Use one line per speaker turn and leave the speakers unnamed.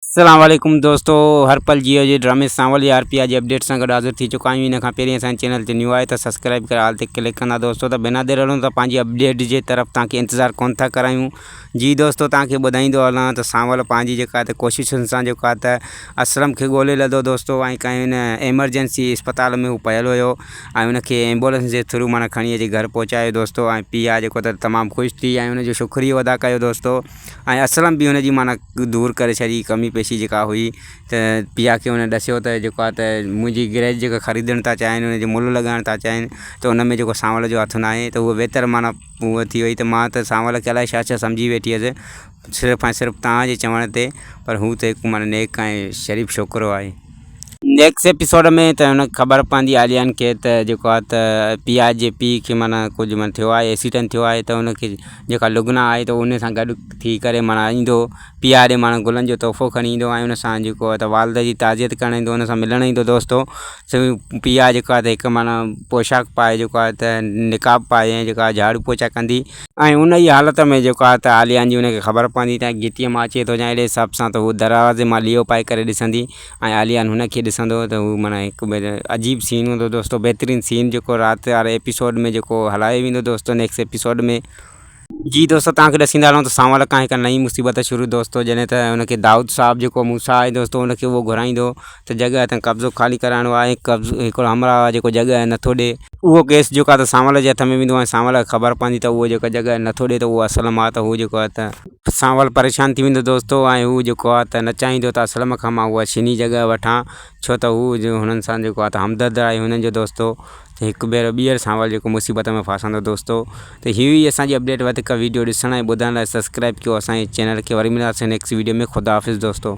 اسلام عليڪم دوستو هر پل جيو جي ڊرامي سان ولي آر پي آر جي اپڊيٽ سان گڏ حاضر ٿي چڪا آهيون ان کان پهرين اسان جي چينل تي نيو آهي ته سبسڪرائب ڪري آل تي ڪلڪ ڪندا دوستو ته بنا دير هلون ته پنهنجي اپڊيٽ جي طرف توهان کي انتظار ڪونه ٿا ڪرايون جي دوستو توهان کي ٻڌائيندو هلان ته سانول پنهنجي جيڪا ته ڪوششن سان جيڪو آهي ته اسلم کي ڳولي لڌو دوستو ۽ ڪنهن هن ايمرجنسي اسپتال ۾ هو پيل هيو ۽ ان کي ايمبولنس جي ٿرو معنيٰ کڻي اچي گهر پهچايو دوستو ۽ پيء جيڪو ته تمام خوش ٿي ۽ ان جو شڪريو ادا ڪيو دوستو ۽ اسلم به ان جي معنيٰ دور ڪري ڇڏي ڪمي پيشي جيڪا هئي ته پيا کي ان ڏسيو ته جيڪو آ ته منهنجي گرهه جيڪا خريدڻ ٿا چاهين ان جو ملهه لڳائڻ ٿا چاهين ته ان ۾ جيڪو سانول جو هٿ ناهي ته هو ويتر معنيٰ هو ٿي وئي ته ماء ته سانول کي الاء ڇا ڇا سمجهي ويٺي هيس صرف ۽ صرف تنهنجي چوڻ تي پر هو ته هڪ معنيٰ نيڪ ۽ شريف ڇوڪرو آهي نيڪس ايپيسوڊ ۾ ته هن خبر پوندي عاليان کي ته جيڪو آهي ته پيا جي پي کي معنيٰ ڪجهه معنيٰ ٿيو آهي ايسيٽن ٿيو آهي ته ان کي جيڪا لگنا آهي ته ان سان گڏ ٿي ڪري معنيٰ ايندو پيا ڏي معنيٰ گلن جو تحفو کڻي ايندو ۽ ان سان جيڪو آهي ته والده جي تعزيت ڪرڻ ايندو ان سان ملڻ ايندو دوستو پيا جيڪو آهي ته هڪ معنيٰ پوشاڪ پائي جيڪو آهي ته نقاب پائي ۽ جيڪو آهي جهاڙو پوچا ڪندي ۽ ان ئي حالت ۾ جيڪو آهي ته عاليان جي ان کي خبر پوندي ته گهٽيء مان اچي ٿو جا اهڙي حساب سان ته هوء دروازي مان ليئو پائي ڪري ڏسندي ۽ عاليان هن کي ڏسندو هو ته هو معنيٰ هڪ عجيب سين هوندو دوستو بهترين سين جيڪو رات واري ايپيسوڊ ۾ جيڪو هلايو ويندو دوستو نيڪسٽ ايپيسوڊ ۾. جي دوستو توهان کي ڏسيندا هلون ته سانول کان هڪ نئين مصيبت شروع دوستو جڏهن ته ان کي دائود صاحب جيڪو موسيٰ آهي دوستو ان کي اهو گهرائيندو ته جڳهه تان قبضو خالي ڪرائڻو آهي ۽ قبضو هڪڙو همراهه آهي جيڪو جڳهه نٿو ڏئي اهو ڪيس جيڪو آهي ته سانول جي هٿ ۾ ويندو ۽ سانول کي خبر پوندي ته اهو جيڪو جڳهه نٿو ڏئي ته اهو اسلم آهي ته هو جيڪو آهي ته سانول پريشان ٿي ويندو دوستو ۽ هو جيڪو آهي ته نه چاهيندو ته اسلم کان مان اها شينهن جي جڳهه وٺان ڇو ته هو هنن سان جيڪو آهي ته همدرد آهي هنن جو دوستو ته هڪ ڀيرو ٻيهر سانول جيڪو مصيبت ۾ ڦاسندو دوستو ته هي هئي اسان جي اپڊيٽ وڌيڪ وڊيو ڏسڻ ۽ ٻڌڻ لاء سبسڪرائب ڪيو اسان جي چينل کي وري ملنداسين نيڪسٽ وڊيو ۾ خدا حافظ دوستو.